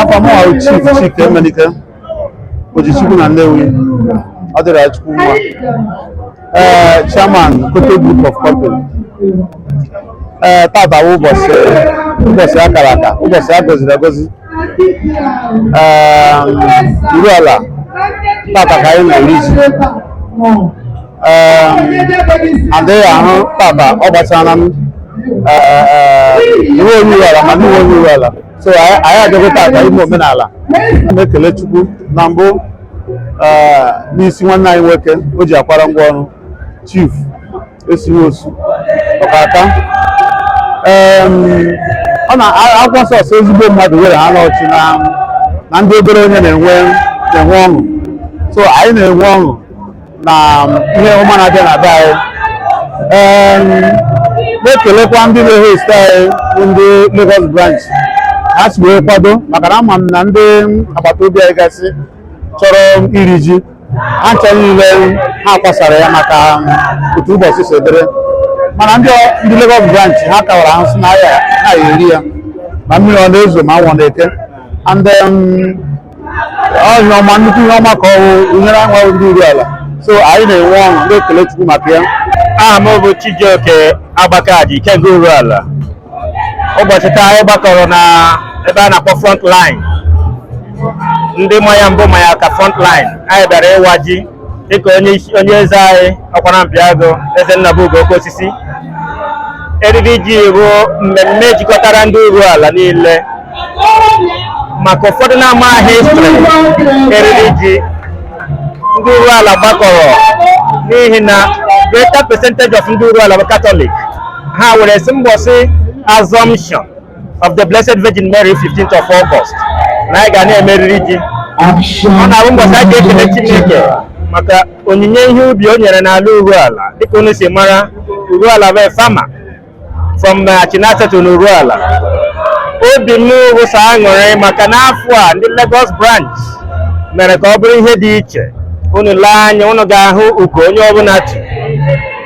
afa mụwa bụ chief chika emenike ojichukwu na nnewi ọ dịrị ya chukwu mma ee chairman kotec group of company ee tata bụ ụbọchị ụbọchị a kara aka ụbọchị a gọziri agọzi ee uruala tata ka anyị na-eri ji adịghị ahụ tata ọ gbasara ma ị wụ onye uruala ma n'ị wụghị onye uruala so anyị adịgo tata ime omenala na-ekele chukwu na mbụ n'isi nwanne anyị nwoke o ji akwara ngwa ọrụ chief esiwe osu ọkaka ọ na akwụkwọ nsọ sị ezigbo mmadụ were na-achị na ndị obere onye na-enwe na-enwe ọṅụ so anyị na-enwe ọṅụ na ihe ọma na-abịa na be anyị Em, na-ekelekwa ndị na-host anyị bụ ndị Lagos branch ha si wee kwado maka na ama m na ndị agbata obi anyị gasị chọrọ iri ji ha ncha niile ha kwasara ya maka otu ụbọchị si dịrị mana ndị ọ- ndị Lagos branch ha kọwara ha sị na ha ya-eri ya ma mmiri ọ na-ezo ma anwụ na-eke and um, ọ ihe ọma nnukwu ihe ọma ka ọ bụ e nyere anyị bụ ndị Uruala so anyị na-enwe ọṅụ na-ekele Chukwu maka ya aha m bụ Chijioke Agbakaji Ikenga Uruala ụbọchị taa anyị gbakọrọ na ebe a na-akpọ front line ndị ma ya mbụ ma ya ka front line anyị bịara ịwa ji dịka onye isi onye eze anyị ọkwara mpiago eze nnabugo okosisi eriri ji bụ mmemme jikọtara ndị uruala niile maka ụfọdụ na-amaghị history eriri ji ndị uruala gbakọrọ n'ihi na greater percentage of ndị uruala bụ katọlik ha were sị mbọsị assumption of the Blessed Virgin Mary 15th of August na anyị ga na-eme eriri ji ọ na-abụ ụbọchị a ga-ekele Chineke maka onyinye ihe ubi o nyere n'ala Uruala dịka unu si mara Uruala bụ farmer from Achinata to Uruala obi m bụ sọ aṅụrị maka n'afọ a ndị Lagos branch mere ka ọ bụrụ ihe dị iche unu lee anya unu ga-ahụ ugo onye ọbụla tu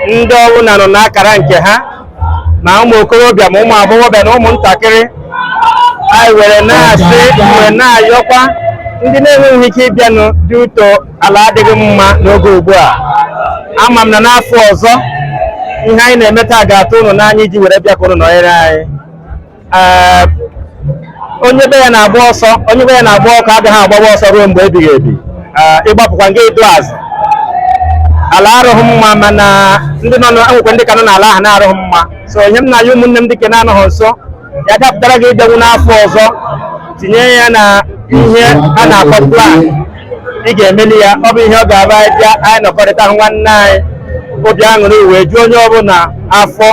ndị ọbụla nọ n'akara nke ha ma ụmụ okorobịa ma ụmụ agbọghọbịa na ụmụntakịrị anyị were na-asị were na-ayọkwa ndị na-enweghị ike ịbịanụ due to ala adịghị mma n'oge ugbu a ama m na n'afọ ọzọ ihe anyị na-eme taa ga-atụ ụnụ n'anya iji were bịa ka ụnụ nọnyere anyị onye be ya na-agba ọsọ onye be ya na-agba ọkụ agaghị agbawa ọsọ ruo mgbe ebighị ebi ịgbapụkwa nga ịdụ azụ ala arụghị mma mana ndị nọ nwekwe ndị ka nọ n'ala ahụ na-arụghị mma so ihe m na-ayọ ụmụnne m ndị ke na-anọghị nso ya dapụtara gị ịbịanwu n'afọ ọzọ tinye ya na ihe a na-akpọ plan ị ga-emeli ya ọ bụ ihe ọ ga-abụ anyị bịa anyị nọkọrịta nwanne anyị obi aṅụrị wee juo onye ọbụla afọ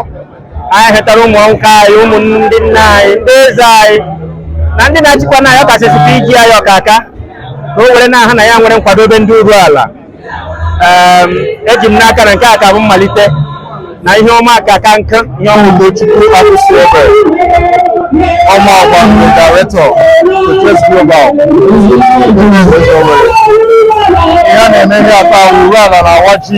anyị chetara ụmụ nwoke anyị ụmụ ndị nna anyị ndị eze anyị na ndị na-achịkwa n'ọkasịsị PG anyị ọka aka ka o were na-ahụ na ya nwere nkwadobe ndị Uruala Em, eji m n'aka na nke a ka bụ mmalite na ihe ọma ka aka nkụ ihe ọma Ugochukwu Akwụsị Ebe ọma ọgba bụ director to Press Global ihe a na-eme ebe a taa wụ Uruala na-awa ji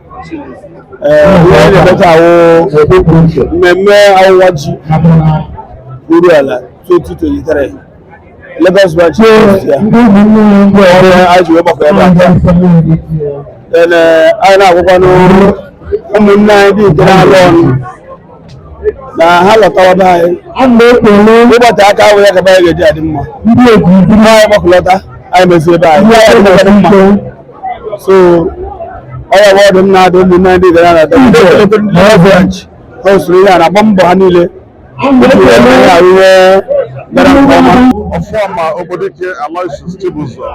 mmemme ọwụwa ji Uruala 2023 Lagos branch ya anyị ji wee gbakọ ebe a taa then anyị na-agwakwa n'ụmụnne anyị ndị nke na-alụ ọnụ na ha lọtawa be anyị ịgbata aka ahụ ya gaba anyị ga-eji adị mma anyị gbakọlọta anyị mezie ebe anyị so ọ ya wụ ọdụ m na-adụ ụmụnne ndị gara na branch ha usoro ihe a na-agba mbọ ha niile ihe gara nke ọma ọfụma obodo ike Aloysius Chibuzor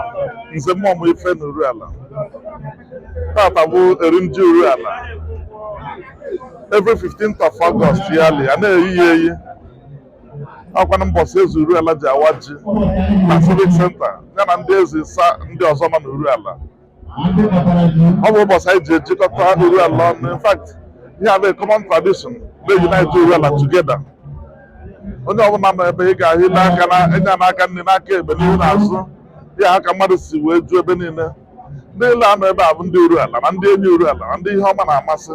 nze mmụọ m ife na Uruala taata bụ iri ji Uruala every 15th of August yearly a na-eyi ya eyi ọ kwanụ mbọsị eze Uruala ji awa ji na civic center ya na ndị eze asaa ndị ọzọ nọ n'Uruala ọ bụ ụbọchị anyị ji ejikọta Uruala ọnụ in fact ihe a bụ common tradition na-unite Uruala together onye ọbụla nọ ebe a ga-ahụ i lee anya n'aka nni n'aka ekpe n'ihu n'azụ ya ka mmadụ si wee ju ebe niile ndị niile nọ ebe a bụ ndị Uruala na ndị enyi Uruala na ndị ihe ọma na-amasị